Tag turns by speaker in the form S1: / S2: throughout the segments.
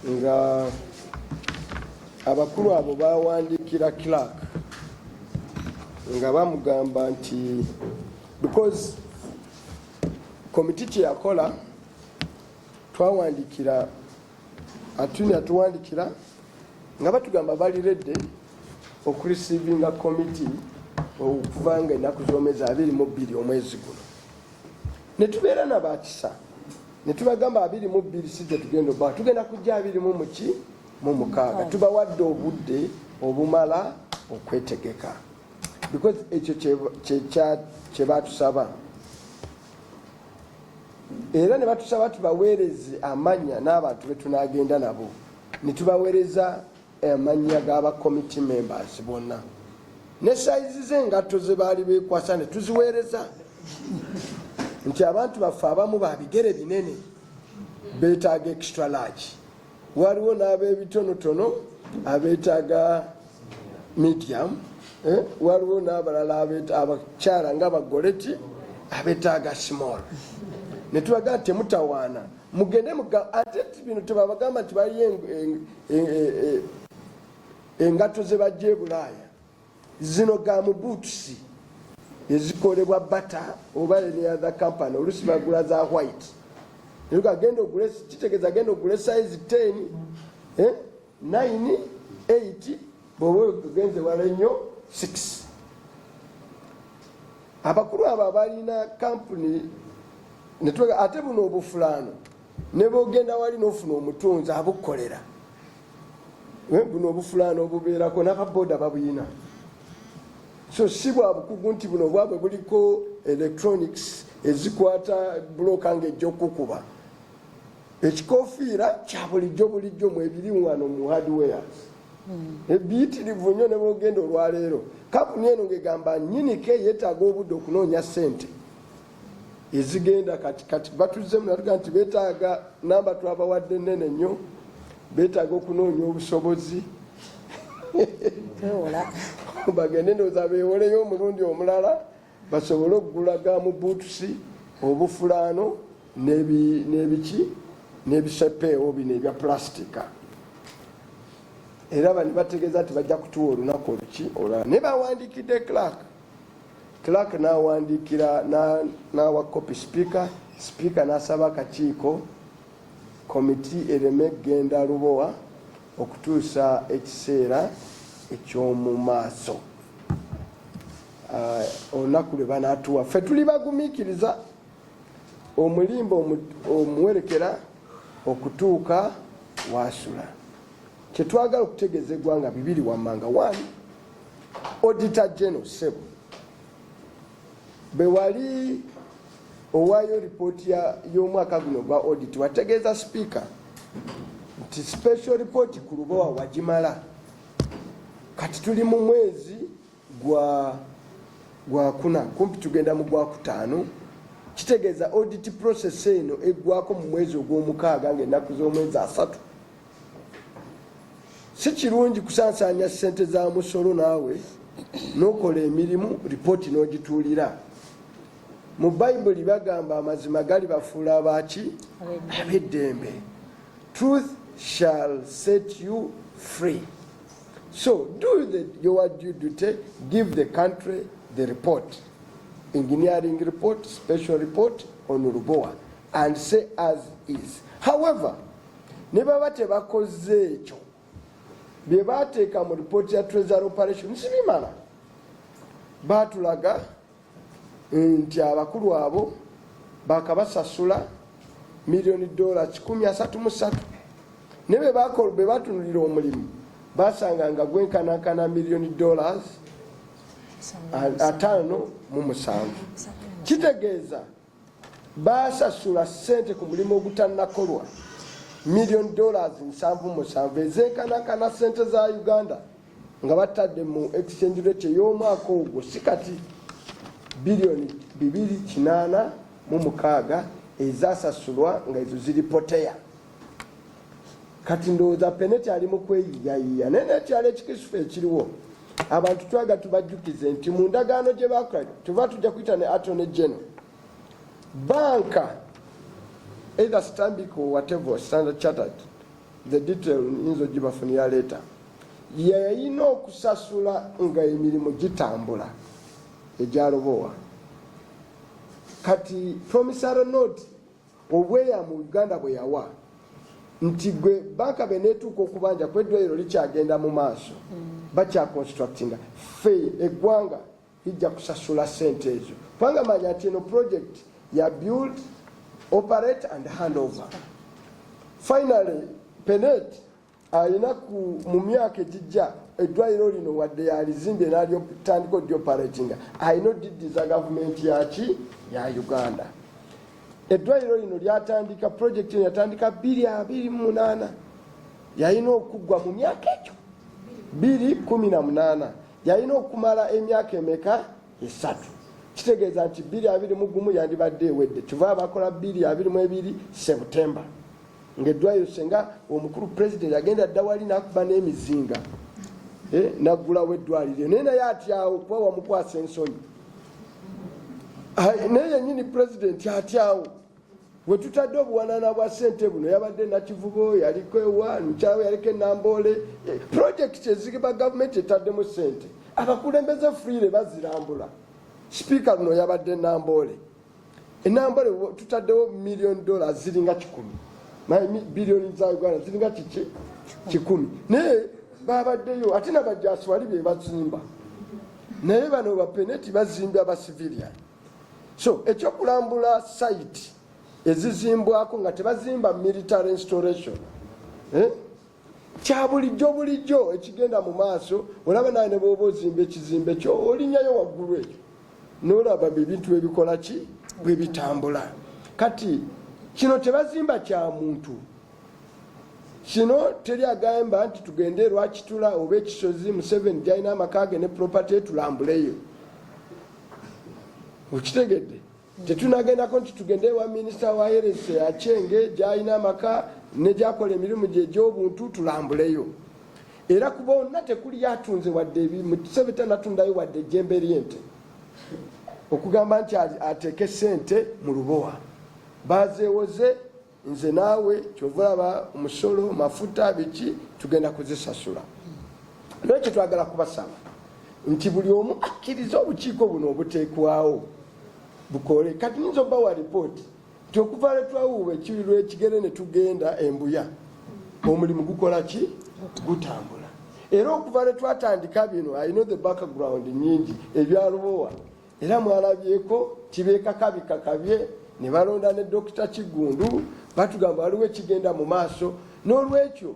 S1: nga abakulu abo bawandiikira clark nga bamugamba nti because komiti kyeyakola twawandikira atuni atuwandikira nga batugamba bali redde okurisivinga komiti okuvanga ennaku zomezi abiri mu bbiri omwezi guno netubeera nabakisa ne tubagamba abiri mu bbiri si gye tugenda oba tugenda kujja abiri mu muki mu mukaaga tubawadde obudde obumala okwetegeka because ekyo kye batusaba era ne batusaba tubaweereze amanya n'abantu be tunaagenda nabo ne tubaweereza amannya g'aba committee members bonna ne sayizi z'engatto ze baali beekwasa ne tuziweereza nti abantu baffe abamu ba bigere binene beetaaga extra large waliwo n'ab'ebitonotono abeetaaga medium eh, waliwo n'abalala abakyala nga bagoleti abeetaaga small ne tulaga nti temutawaana mugende muga ate bino tebabagamba nti baliyo engatto e, e, e, zebajja ebulaaya zino ga mubuutusi ezikolebwa bata oba eneathe company olusi bagula za white agenda ogule kitegeza agenda ogule size 10 eh? 9 8 bwoba ogenze wala nnyo 6 abakulu abo abalina kampuni netwega ate buno obufulaano nebogenda wali nofuna omutunzi abukolera eh, buno obufulaano obubeerako nababooda babuyina so si bwa bukugu nti buno bwabwe buliko electronics ezikwata buloka nga ejja okukuba ekikofiira kya bulijjo bulijjo mwebiri wano mu hardwares hmm. ebiyitirivu nnyo ne bwogenda olwaleero kampuni eno ngegamba nyinike yetaaga obudde okunoonya sente ezigenda kati kati batuzzemu natuga nti betaaga namba twabawadde nene nnyo betaaga okunoonya obusobozi bagende ndooza bewoleyo omulundi omulala basobole okugula ga mu buutusi obufulaano n'ebiki n'ebisepeewo bino ebya pulastika era bani bategeeza nti bajja kutuwa olunaku oluki olwala naye bawandikidde clark clark nawandiikira nawa copy speaker speaker nasaba akakiiko komiti ereme kugenda lubowa okutuusa ekiseera eky'omu maaso uh, olunaku lwe banatuwa ffe tuli bagumikiriza omulimba omuwerekera okutuuka wasula kyetwagala okutegeeza eggwanga bibiri wammanga wani odita geno sebo bewali owaayo lipooti y'omwaka guno gwa odit wategeeza sipiika nti special report ku lubowa wagimala kati tuli mu mwezi gwa gwakuna kumpi tugenda mu gwakutaano kitegeeza audit process eno eggwako mu mwezi ogw'omukaaga ng'ennaku z'omwezi asatu si kirungi kusansaanya ssente za musolo naawe n'okola emirimu lipooti n'ogituulira mu bayibuli bagamba amazima gali bafuula abaki ab'eddembe truth shall set you free So do the, your due duty, give the country the report, engineering report, special report on Lubowa, and say as is. However, ne baba tebakoze ekyo bye baateeka mu report ya treasury operation sibimala baatulaga nti abakulu abo bakabasasula miliyoni dola kikumi asatu mu satu ne bwe batunulira omulimu basanga nga gwenkanankana miliyoni dollars ataano mu musanvu kitegeeza baasasula ssente ku mulimu ogutannakolwa million dollars nsanvu musanvu ezenkanakana ssente za uganda nga batadde mu exchange rate ey'omwaka ogwo si kati biliyoni bibiri kinaana mu mukaaga ezasasulwa nga ezo ziri poteya kati ndowooza peneti ali mu kweyiyayiya naye nekyalo ekikisufu ekiriwo abantu twaga tubajjukize nti mu ndagaano gye bakola tuva tujja kuyita ne atone geno banka either stanbic or whatever standard chartered the detail nyinza ogibafunira leeta yeyalina okusasula nga emirimu gitambula egyalobowa kati promisary note obweyamo uganda bwe yawa nti gwe banka beneetuuka okubanja ku eddwaliro likyagenda mu maaso mm. bakyaconstructinga fe eggwanga lijja kusasula sente ezo kubanga manya nti eno project ya build operate and handover finally penet alina ku mu myaka egijja eddwaliro lino wadde yalizimbye nalyotandika odyoparatinga alina odiddiza gavumenti yaki ya uganda eddwaliro lino lyatandika projekiti eno yatandika biri abiri mumunana yalina okuggwa mu myaka egyo biri kumi na munana yalina okumala emyaka emeka esatu kitegeeza nti biri abiri mugumu yandibadde ewedde kiva abakola biri abiri mu ebiri september ng'eddwaliro senga omukulu pulezidenti agenda dda wali n'akuba n'emizinga eh, naggulawo eddwaliro naye naye atyawo kuba wamukwasa ensonyi naye yennyini pulezidenti atyawo we tutadde obuwanana bwa sente buno yabadde nakivubo yaliko ewa mukyawo yaliko enamboole eh, pulojekiti ezigiba gavumenti etaddemu sente abakulembeze fuyire bazirambula sipiika luno yabadde namboole enambale tutaddewo million dollar ziringa kikumi naye billion za uganda ziringa kiki kikumi naye babaddeyo ate nabajasi wali bebazimba naye bano bapeneti bazimba bacivilian so ekyokulambula site ezizimbwako nga tebazimba military installation eh? kya bulijjo bulijjo ekigenda mu maaso olaba naye ne bwoba ozimba ekizimbe kyo olinyayo waggulu ekyo nolaba ebintu bebikola ki bwe bitambula kati kino tebazimba kya muntu kino teri agamba nti tugende erwakitula oba ekisozi museveni gyalina amaka ge ne propaty tulambuleyo okitegedde tetunagendako nti tugende ewa minisita wa herese akyenge gyalina amaka negyakola emirimu gye egy'obuntu tulambuleyo era ku bonna tekuli yatunze wadde ebimusebe tanatundayo wadde ejjembe lyente okugamba nti ateeke sente mu lubowa bazeewoze nze naawe kyova olaba omusolo mafuta biki tugenda kuzisasula naye kyetwagala kubasaba nti buli omu akkiriza obukiiko buno obuteekwawo bukole kati nyinza obawa lipooti nti okuva lwetwawuuba ekiri lwekigere ne tugenda embuya omulimu gukola ki gutambula era okuva lwetwatandika bino i know the background nyingi ebyalubowa era mwalabyeko tibekakabye kakabye ne balonda ne dokita kiggundu batugamba waliwo ekigenda mu maaso n'olwekyo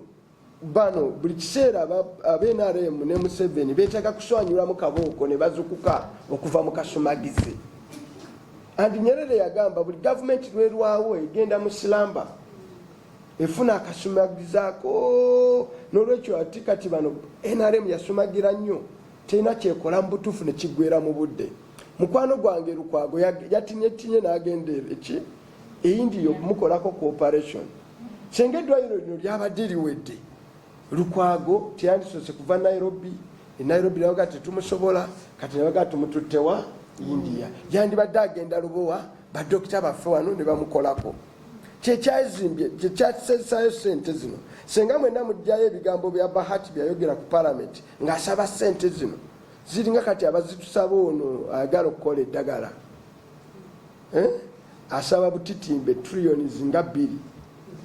S1: bano buli kiseera abnrm ne museveni betaaga kuswanyulamu kabooko ne bazukuka okuva mu kasumagizi andi nyerere yagamba buli gavumenti lwerwawo egenda mu silamba efuna akasumagizaako n'olwekyo ati kati bano nrm yasumagira nnyo terina kyekola mubutuufu nekigwera mu budde mukwano gwange lukwago yatinyetinye nagenda eki eindiya okumukolako cooperation senga eddwaliro lino lyabadde liwedde lukwago teyandisoose kuva nairobi enairobi nabaga tetumusobola kati nabaga tumututtewa india yandibadde agenda lubowa badokita baffe wano ne bamukolako kyekyazimbye kyekyasesayo sente zino senga mwena mujjayo ebigambo bya bahati byayogera ku palamenti ng'asaba ssente zino ziringa kati abazitusaba ono ayagala okukola eddagala eh? asaba butitimbe triyoni zinga bbiri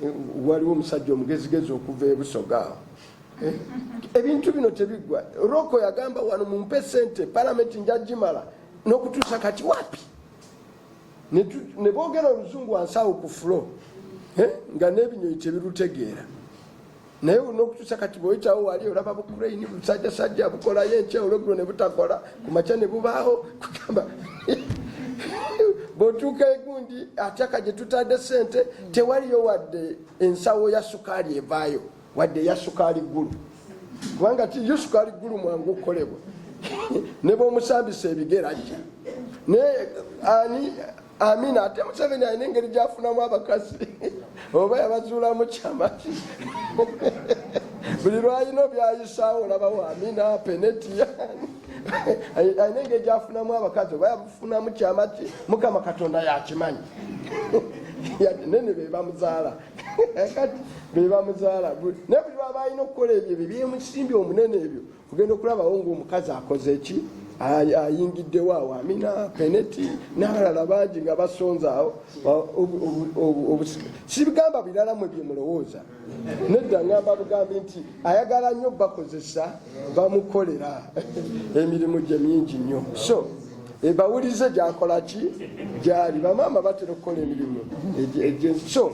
S1: eh, waliwo omusajja omugezigezi okuva ebusoga awo eh? ebintu bino tebiggwa roko yagamba wano mumpe sente palamenti njagimala n'okutuusa kati wapi ne boogera oluzungu wansi awo ku fulo nga n'ebinyonyi tebirutegeera naye olina okutusa kati bwewekyawo wali olaba bukraini busajjasajja bukolayo enkya olwegulo ne butakola ku makya ne bubaawo kugamba bwotuuka egundi atyaka gye tutadde sente tewaliyo wadde ensawo ya sukaali evaayo wadde eya sukaali ggulu kubanga tiyo sukaali ggulu mwangu okukolebwa ne bwomusambisa ebigera ajja naye ani amina ate museveni alina engeri gyafunamu abakazi oba yabazuulamu kyamaki buli lwalina obyayisaawo olabawo amina penetiya alina engeri gyafunamu abakazi oba yafunamu kyamaki mukama katonda yakimanyi nene bebamuzaala kati bebamuzaala naye buli lwaba alina okukola ebyo ebyo byemusimbi omunene ebyo ogenda okulabawo ngaomukazi akoze ki ayingiddewo awo amina peneti n'abalala bangi nga basonze awo sibigamba birala mwe bye mulowooza nedda ngamba bugambi nti ayagala nnyo bakozesa bamukolera emirimu gye mingi nnyo so ebawulize gyakola ki gyali bamaama batera okukola emirimu egyensi so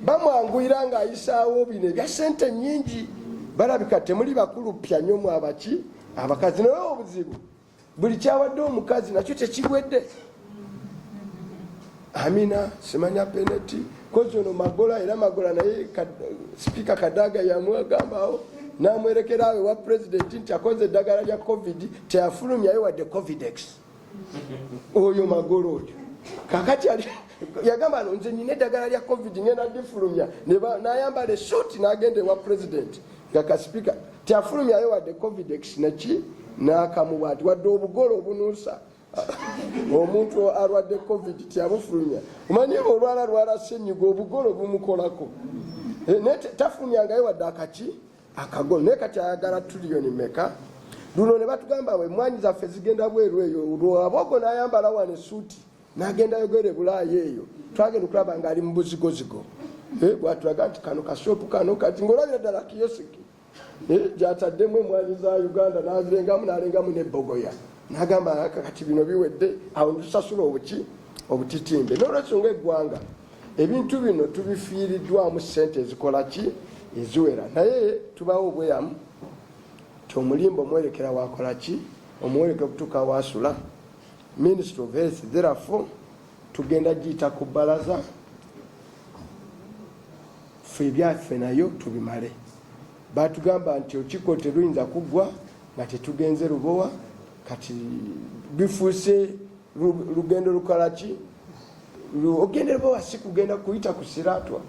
S1: bamwanguyira ng'ayisaawo bino ebya sente nyingi balabika temuli bakulu pya nyo mwabaki abakazi naye obuzibu buli kyawadde omukazi nakyo tekiwedde amina simanya peneti kozi ono magola era magola naye sipiika kadaga yamwagambawo namwerekerawo ewa pulezidenti nti akoze eddagala lya covid teyafulumyayo wadde covidex oyo magolo oyo kakati yagamba no nze nina eddagala lya covid ngenda difulumya nayambala esuuti nagenda ewa president nga kasipika tyafulumyayo wadde covidex naki nakamuba nti wadde obugole obunuusa omuntu alwadde covid tyabufulumya omanyi ba olwala lwala senyiga obugole obumukolako eh, naye tafulumyangayo wadde akaki akago naye kati ayagala tuliyoni meka luno ne batugamba we mwanyi zaffe zigenda bweru eyo lwabogo nayambala wano esuuti nagenda yogera ebulaaya eyo twagenda okulaba ngaali mu buzigozigo eh, bwatulaga nti kano kashopu kano kati ngaolabira ddala kiyosiki eh, gyataddemu emwanyi za uganda nazirengamu nalengamu nebogoya nagamba kati bino biwedde awo nitusasula obuki obutitimbe nolwensonga eggwanga ebintu bino tubifiiriddwamu ssente ezikola ki eziwera naye tubawo obweyamu ti omulimba omwerekera wakola ki omuwerekera okutuuka wasula ministry of health therefore tugenda giyita ku bbalaza fe ebyaffe nayo tubimale batugamba nti okiko teruyinza kuggwa nga tetugenze lubowa kati bifuuse lugendo lukola ki ogendera bawa si kugenda kuyita ku siratwa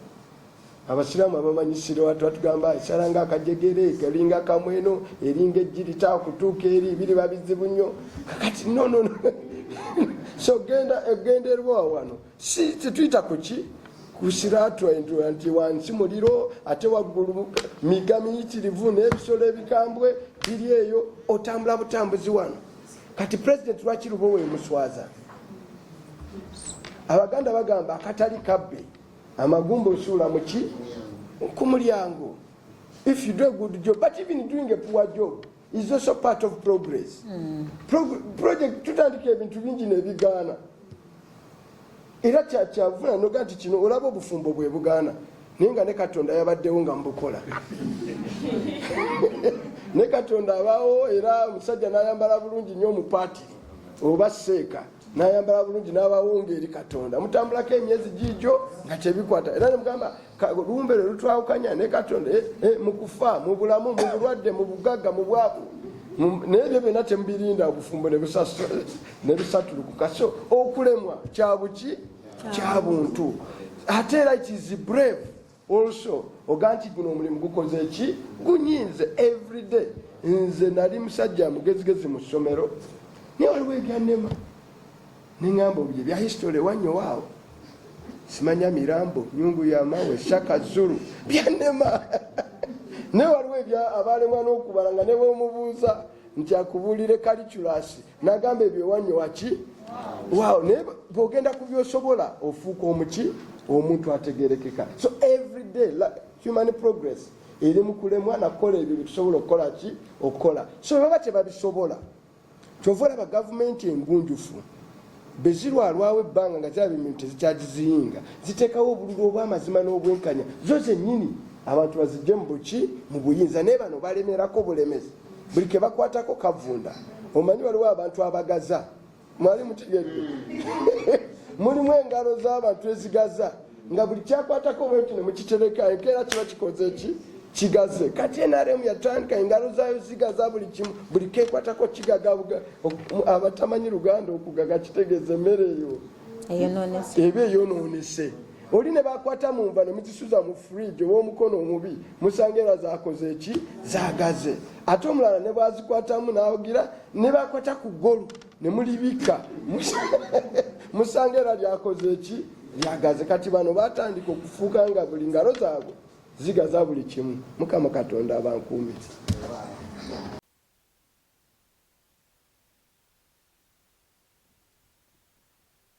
S1: abasiraamu abamanyi siratwa tugamba esala nga akajegere kalinga kamweno eringa ejjirita okutuuka eri biriba bizibu nnyo kakati nono so genda egenderwa wano si tetuyita kuki kusiratwa nti wansi muliro ate waggulu miga miyitirivu n'ebisolo ebikambwe biri eyo otambula butambuzi wano kati president lwaki lubowa emuswaza abaganda bagamba akatali kabbe amagumba osuula muki ku mulyango if you do a good job but even doing a poor job is also part of progress mm. Pro project tutandika ebintu bingi nebigaana era kyakyavula noga nti kino olaba obufumbo bwe bugaana naye nga ne katonda yabaddewo nga mubukola ne katonda abaawo era omusajja nayambala bulungi nyo omupaati oba seeka nayambala bulungi nabawonga eri katonda mutambulako emyezi gijo nga kyebikwata era nemugamba lumbe lwe lutwawukanya ne katonda eh, eh, mukufa mubulamu mubulwadde mubugagga mubwaku naye byo byona temubirinda obufumbo nebusasula ne lusatulukuka so okulemwa kyabuki kya buntu ate era it is brave also oga nti guno omulimu gukoze eki gunyinze everyday nze nali musajja mugezigezi mu ssomero naye waliwo ebyanema neŋamba obuye bya history wanyowaawo simanya mirambo nyungu yamawe shaka zulu byanema naye waliwo ebya abalemwa n'okubala nga ne bwomubuuza nti akubuulire kaliculasi nagamba ebyo ewanyo waki waaw naye bwogenda ku byosobola ofuuka omuki omuntu ategerekeka so everyday like human progress eri mu kulemwa nakukola ebyo byetusobola okukola ki okukola so baba tebabisobola kyova olaba gavumenti engunjufu bezirwalwawo ebbanga nga ziraba emintu tezikyagiziyinga ziteekawo obululu obwamazima n'obwenkanya zo zennyini abantu bazijje mu buki mu buyinza naye bano balemerako bulemezi buli kebakwatako kavunda omanyi waliwo abantu abagaza mwali mutegedde mulimu engalo z'abantu ezigaza nga buli kyakwatako bwenti nemukitereka enkeera kiba kikoze ki kigaze kati nrm yatandika engalo zayo zigaza buli kimu buli kekwatako kigaga abatamanyi luganda okugaga kitegeeza emmere eyo eba eyonoonese oli ne bakwata mu nva ne muzisuza mu fridge ow'omukono omubi musanga era zakoze eki zagaze ate omulala ne bwazikwatamu n'awagira ne bakwata ku ggolu ne mulibikka musanga era lyakoze eki lyagaze kati bano batandika okufuuka nga buli ngalo zaabwe zigaza buli kimu mukama katonda abankuumiza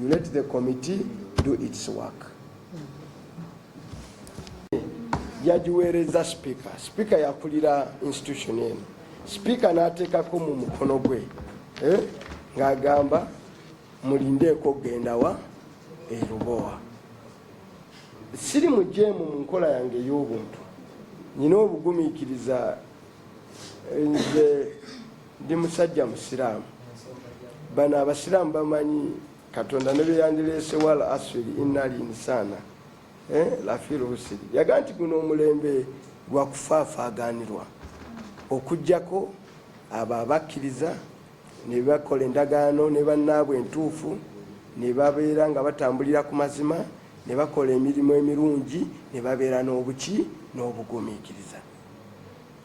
S1: You let the committee do its work. yagiweereza sipiika sipiika yakulira institution eno sipiika n'ateekako mu mukono gwe eh, ng'agamba mulindeeko okugenda wa erubowa siri mujeemu mu nkola yange ey'obuntu nyina obugumiikiriza eh, nze Ndi musajja Musiraamu. Bano Abasiraamu bamanyi Katonda ne byeyandireese wal asiri inna al insaana eh, lafi lhusiri. Yaga nti guno omulembe gwa kufaafaaganirwa okujjako abo abakkiriza ne bakola endagaano ne bannaabwe entuufu ne babeera nga batambulira ku mazima ne bakola emirimu emirungi ne babeera n'obuki n'obugumiikiriza.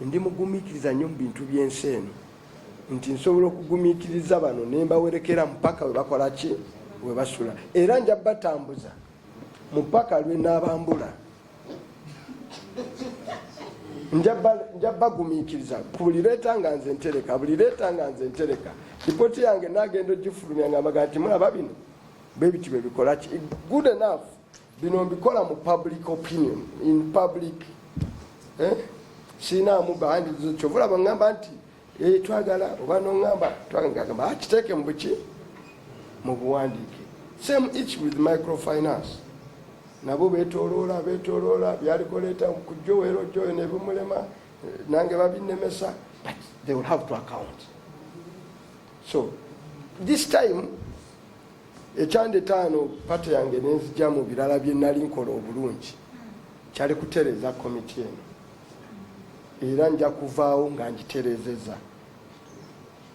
S1: Ndi mugumiikiriza nnyo mu bintu by'ensi eno nti nsobola okugumiikiriza bano ne mbawerekera mpaka we bakola ki we basula era nja batambuza mupaka lwe naabambula nja bagumiikiriza ku buli leeta nga nze ntereka buli leeta nga nze ntereka lipooti yange naagenda ogifulumya nga mbaga nti mulaba bino bebiti bebikola ki good enough bino mbikola mu public opinion in public eh? sinaamu bandi kyova olaba ngamba nti eh, twagala oba nongamba twagamba akiteeke ah, mubuki mu buwandiike same each with microfinance nabo betoloola betoloola byalikoleeta kujoweero joyo nebimulema eh, nange babinemesa but they will have to account so this time ekyandetaano pate yange nenzija mu birala bye nali nkola obulungi kyali kutereeza komiti eno era nja kuvaawo nga ngitereezeza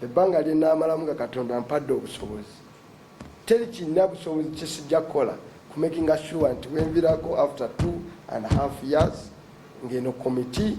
S1: ebbanga lye naamalamu nga katonda mpadde obusobozi teri kirina busobozi kyesijja kukola kumakinga sure nti wenvirako after two and half years ng'eno komiti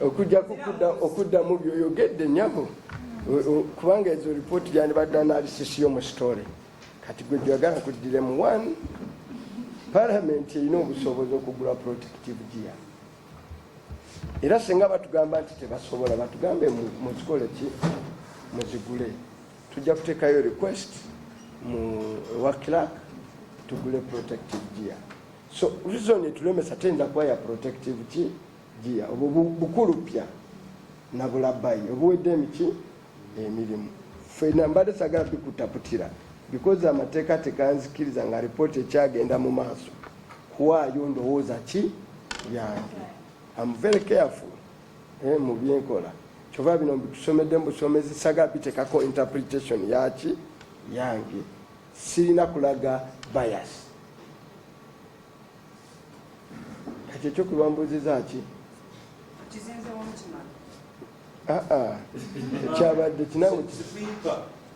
S1: okujja okuddamu byoyogedde nyabo kubanga ezo ripooti gyandibadde analysis yo mu story kati gwe gyagala kuddiremu one palamenti erina obusobozi okugula protective gear era singa batugamba nti tebasobola batugambe muzikole ki muzigule tujja kuteekayo request mu wa clark tugule protective gear so reason etulemesa tenda kuba ya protective ki gia obwo bukulu pya nabulabayi obuwedde emiki emirimu fena mbadde sagala bikutaputira because amateeka teganzikiriza nga ripooti ekyagenda mu maaso kuwaayo ndowooza ki yange am very careful eh, mu byenkola kyova bino mbitusomedde mubusomezi sagala bitekako interpretation yaki yange sirina kulaga bias ekyo kyokulwambuziza ki
S2: aa
S1: kyabadde
S2: kinawe